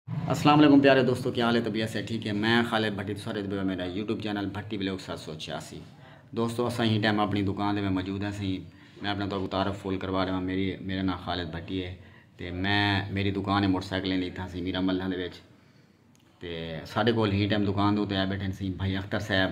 السلام علیکم پیارے دوستو کیا حال ہے طبیعت سے ٹھیک ہے میں خالد بھٹی تو سارے دبے میرا یوٹیوب چینل بھٹی بلاگ سات سو چھیاسی دوستو اساں ہی ٹائم اپنی دکان دے میں موجود ہیں سہی میں اپنا تو تعارف فول کروا رہا میری میرا نام خالد بھٹی ہے تے میں میری دکان ہے موٹر سائیکلیں دی تھا سی میرا ملہ دے وچ تے سارے کول ہی ٹائم دکان دے تے آئے بیٹھے سی بھائی اختر صاحب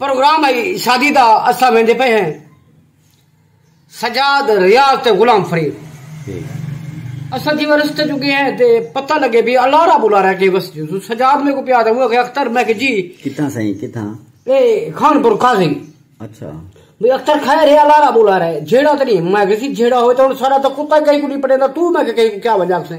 پروگرام ائی شادی دا اساں ویندے پئے ہیں سجاد ریاض تے غلام فرید اساں جیویں رستے جو گئے ہیں تے پتہ لگے بھی الارا بلارا کے بس جو سجاد میں کو پیا تھا وہ کہ اختر میں کہ جی کتھاں سائیں کتھاں اے خان پور قاضی اچھا بھی اختر خیر ہے الارا بلارا ہے جھیڑا تے نہیں میں کہ جی جھیڑا ہوئے تو سارا تو کتا کہیں کو نہیں پڑے تو میں کہ کہیں کو کیا وجہ سے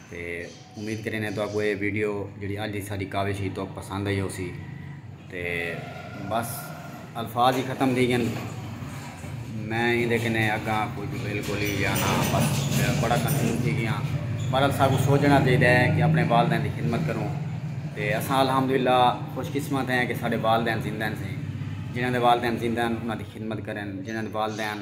تے امید کریندے تہاکوں اے ویڈیو جیڑھی اج دی ساڈی کاوش ہی تہاکوں پسند آئی ہوسی تے بس الفاظ ہی ختم تھی گن میں ایندے کنے اگاں کچھ بالکل ہی یا نا بس بڑا کنفیوز تھی گیا پر اساں کو سوچنا چاہیے ہے کہ اپنے والدین دی خدمت کروں تے اساں الحمدللہ خوش قسمت ہیں کہ ساڈے والدین زندہ ہیں جنہاں دے والدین زندہ ہیں انہاں دی خدمت کرن جنہاں دے والدین